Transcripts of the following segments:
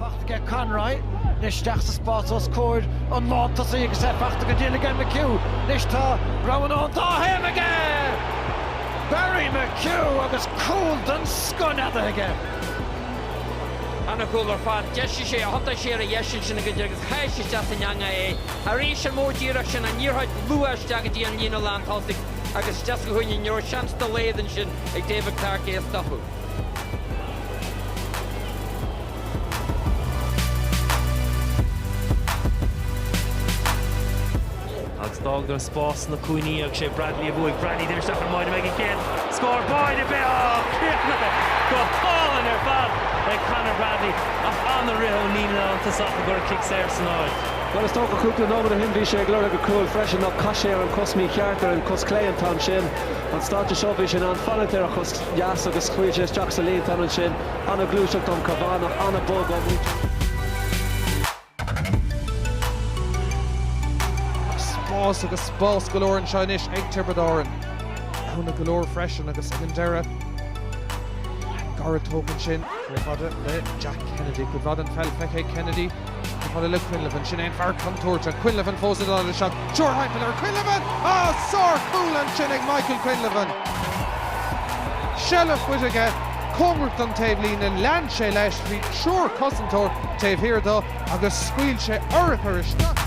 Fachta aige Conroy, anois isteach sa spás os comhair an lán tosaigh agus é fachta go deas aige McHugh, anois tá roghanna ón dá thaobh aige! Barry McHugh agus cúl den scoth neadaithe aige. Ana chúl ar fad, d'aimsigh sé a shot siar a dheis sin againne agus sháigh isteach san eangach é. Arís an modh díreach sin, an liathróid luath isteach go dtí an líne lán tosaigh. agus isteach sa chúinne, ní raibh seans dá laghad ansin ag David Clarke é a stopadh. Agus d'fhágadar an spás sna cúinní agus sé Bradley a bhuaigh. Bradley, d'imigh isteach i mbun an chéad scór. Báire beo! Ó, críochnaithe go hálainn ar fad ag Conor Bradley ach an-rith ó Neil ina iontas ach gur cuireadh cic saor san áit. Bhuel, is dócha cúpla nóiméad ó shin bhí sé ag lorg an chúil freisin, nó caith sé ar an cos mí-cheart, ar an cos clé an t-am sin. An stáid seo, bhí sé in ann fanacht ar a chos dheas agus scaoil sé isteach sa líontán ansin. An-ghluaiseacht ón Cavanagh, ag bogadh ón spás agus spás go leor anseo anois ag Tiobraid Árann. Cúnamh go leor freisin agus ag an deireadh, gairid tógtha ansin, chomh fada le Jack Kennedy. Cuid mhaith den pheil faighte ag Kennedy. Chomh fada le Quinlivan, sin é an fear contúirteach, Quinlivan fós i dtaobh le shot triúr timpeall air, Quinlivan! Ah! Sár-chúl ansin ag Michael Quinlivan! Seilbh faighte aige, cóngarach don taobh líne, lean sé leis, bhí triúr cosantóir taobh thiar dó agus scaoil sé urchar isteach.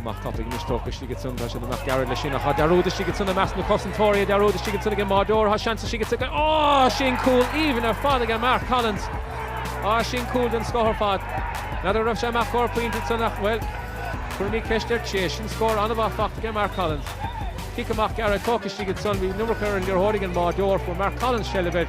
Amach tapaidh anois, tógtha istigh ansan, tá siad amach gearr leis sin, ach tá dearúd istigh ansan i measc na cosantóirí, tá dearúd istigh ansan ag an mbáireoir, tá seans istigh ansan ag, á, sin cúl aoibhinn ar fad ag Mark Collins, á, sin cúl den scoth ar fad. N'fheadar an raibh sé amach scór pointe ansan ach, bhuel, cuirfimid ceist air, sea, sin scór an-mhaith fachta ag Mark Collins. Cic amach gearr tógtha istigh ansan, bhí an iomarca ar an liathróid ag an mbáireoir, fuair Mark Collins seilbh air,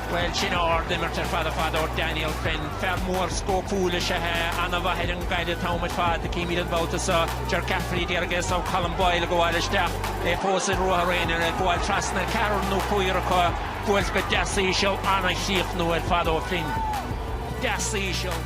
Bhuel, sin ardimirt ar fad ar fad ó Daniel Flynn. Fear mór scóipiúil is ea é, an-mhaith ar an gcaid an t-am ar fad. Címid an babhta seo Ger Cafferkey, agus Colm Boyle, ag gabháil isteach, é fós i ruathar aonair, ag gabháil trasna ceathrar nó cúigear acu, buailte go deas íseal, an-chríochnú ar fad ó Flynn. Deas íseal.